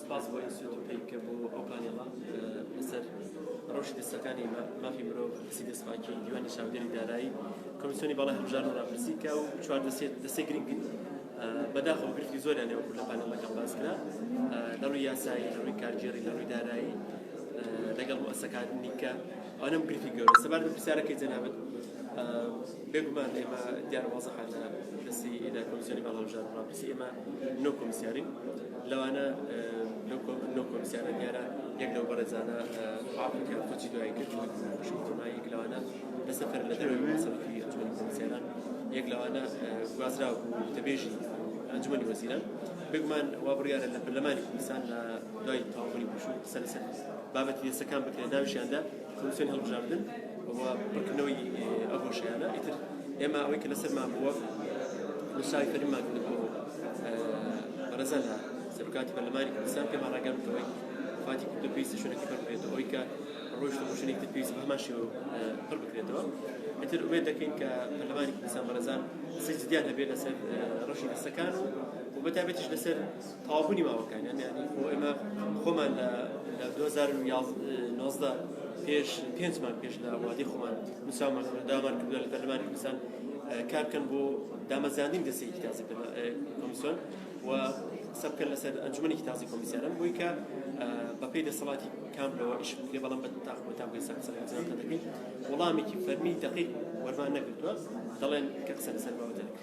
سپاس بۆ ئینستیتوت پەیکە بۆ ئەو پانێڵە لەسەر ڕەوشی دەستەکانی مافی مرۆڤ دەستی دەستپاکی دیوانی چاودێری دارایی کۆمیسیۆنی باڵای هەڵبژاردن و ڕاپرسی کە و چوار دەستێت دەستێک گرنگ بەداخەوە گرفتی زۆریان لێوە لە پانێڵەکەم باس کرا لە ڕووی یاسایی لە ڕووی کارگێڕی لە ڕووی دارایی لەگەڵ مؤسسەکان نیکە ئەوەم گرفتی گەورە سەبار بە پرسیارەکەی جەنابەت بێگومان ئێمە دیارە وازەخانە دەستی لە کۆمیسیۆنی باڵای هەڵبژاردن و ڕاپرسی ئێمە نۆ کۆمیسیارین لەوانە لەو کۆمسیارە دیارە یەک لەو بەڕێزانە حاڵی کە کۆچی دوایی کرد شوما یەک لەوانە لە سەفەر لە دەروی مەسەفی ئەنجومەنی کۆمسیاران یەک لەوانە گوازرا و وتەبێژی ئەنجومەنی وەزیران بگمان وا بڕیارە لە پەرلەمانی کوردستان لە دوای تەواوبوونی پشوو قسە لەسەر بابەتی یەسەکان بکرێت ناویشیاندا کۆمیسیۆنی هەڵبژاردن و پڕکردنەوەی ئەو هۆشیانە ئیتر ئێمە ئەوەی کە لەسەرمان بووە نووسراوی فەرمیمان کردن بۆ بەڕێزان لە سەرکاتی پەرلەمانی کوردستان پێمان ڕاگەیاند کە فاتی کورد پێویستە شوێنەکە پڕ بکرێتەوە ئەوەی کە ڕۆژتە بۆ شوێنێکی تر پێویست بە هەمان شێوە پڕ بکرێتەوە ئیتر ئومێد دەکەین کە پەرلەمانی کوردستان بەڕێزان سەجددیان هەبێت لەسەر ڕەشی دەستەکان و و بەتابێتیش لەسەر تەواوبوونی ماوەکانی ئەم یانەیە بۆ ئێمە خۆمان لە لە 2011 پێش پێنجمان پێش لە وادی خۆمان نووسامان دامان کردووە لە پەرلەمانی کوردستان کار بکەن بۆ دامەزراندنی دەستێکی تازی کۆمیسیۆن و سەبکەن لەسەر ئەنجومەنێکی تازی کۆمیسیانم بۆی کە بەپی دەسەڵاتی کام لەوە ئیش بکرێ بەڵام بە تاخۆ تا بێ سەر سەرەکەدەکەین وەڵامێکی فەرمی دقیق وەرمان نەگرتووە دەڵێن کە قسە لەسەر باوە دەکەن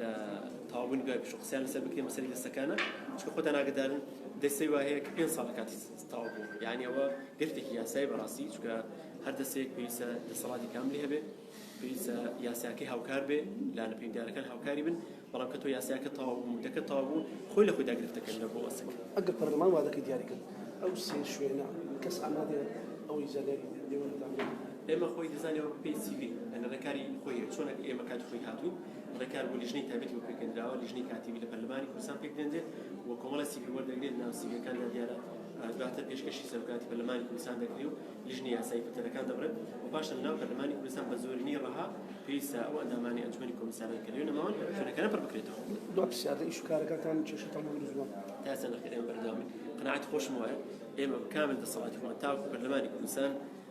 لە تەواو بوونی دوای پشوو قسەیان لەسەر بکرێ مەسەلەی دەستەکانە چونکە خۆتان ئاگەدارن دەستەی وا هەیە کە پێنج ساڵ لە کاتی تەواو بوو یعنی ئەوە گرفتێکی یاسایی بەڕاستی چونکە هەر دەستەیەک پێویستە دەسەڵاتی کاملی هەبێ پێویستە یاساکەی هاوکار بێ لانە پێکدارەکان هاوکاری بن بەڵام کە تۆ یاساکە تەواو بوو مدەکە تەواو بوو خۆی لە خۆیدا گرفتەکەن لە بۆ ئەسک ئەگەر پەرلەمان وادەکەی دیاری کرد ئەو سێ شوێنە کەس ئامادە ئەوەی زیادی لێوەدەدان ئێمە خۆی دەزانەوە پێی سیڤی ئەنەرەکاری خۆی چۆنە ئێمە کات خۆی هاتووین ڕێکار بۆ لیژنەی تایبەتی بۆ پێکهێنراوە، لیژنەی کاتیی لە پەرلەمانی کوردستان پێکدێنرێت و کۆمەڵە سیڤیل وەردەگرێت، لەناو سیڤیلەکاندا دیارە دواتر پێشکەشی سەرۆکایەتی پەرلەمانی کوردستان دەکرێ و لیژنەی یاسایی پتەرەکان دەبڕێت و پاشان لەناو پەرلەمانی کوردستان بە زۆرینەی ڕەها پێویستە ئەو ئەندامانەی ئەنجومەنی کۆمیسارن کە لەوێ نەماون شوێنەکانیان پڕ بکرێتەوە. دوای پرسیارەکە ئیش و کارەکانتان کێشەتان بۆ دروست بووە؟ تا ئێستا نەخێر، ئێمە بەردەوامین، قەناعەتی خۆشم وایە ئێمە بە کامل دەسەڵاتی خۆمان تاوەکو پەرلەمانی کوردستان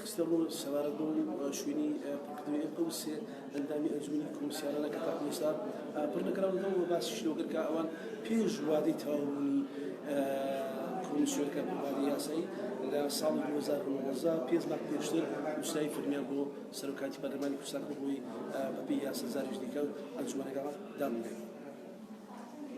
خستە ڕوو سەبارەت بەو شوێنی پڕکردنەوەی ئەو سێ ئەندامی ئەنجومەنی کۆمسیارانە کە تاکو ئێستا پڕ نەکراونەتەوە و باسیشی لەوە کرد کە ئەوان پێش وادەی تەواوبوونی کۆمسیۆرکە بڕوادەی یاسایی لە ساڵی 2019 پێنج مانگ پێشتر نووسراوی فەرمیان بۆ سەرۆکایەتی پەرلەمانی کوردستان کردبووی بەپێی یاسا جارێکی دیکە ئەنجومەنەکە دابنرێت.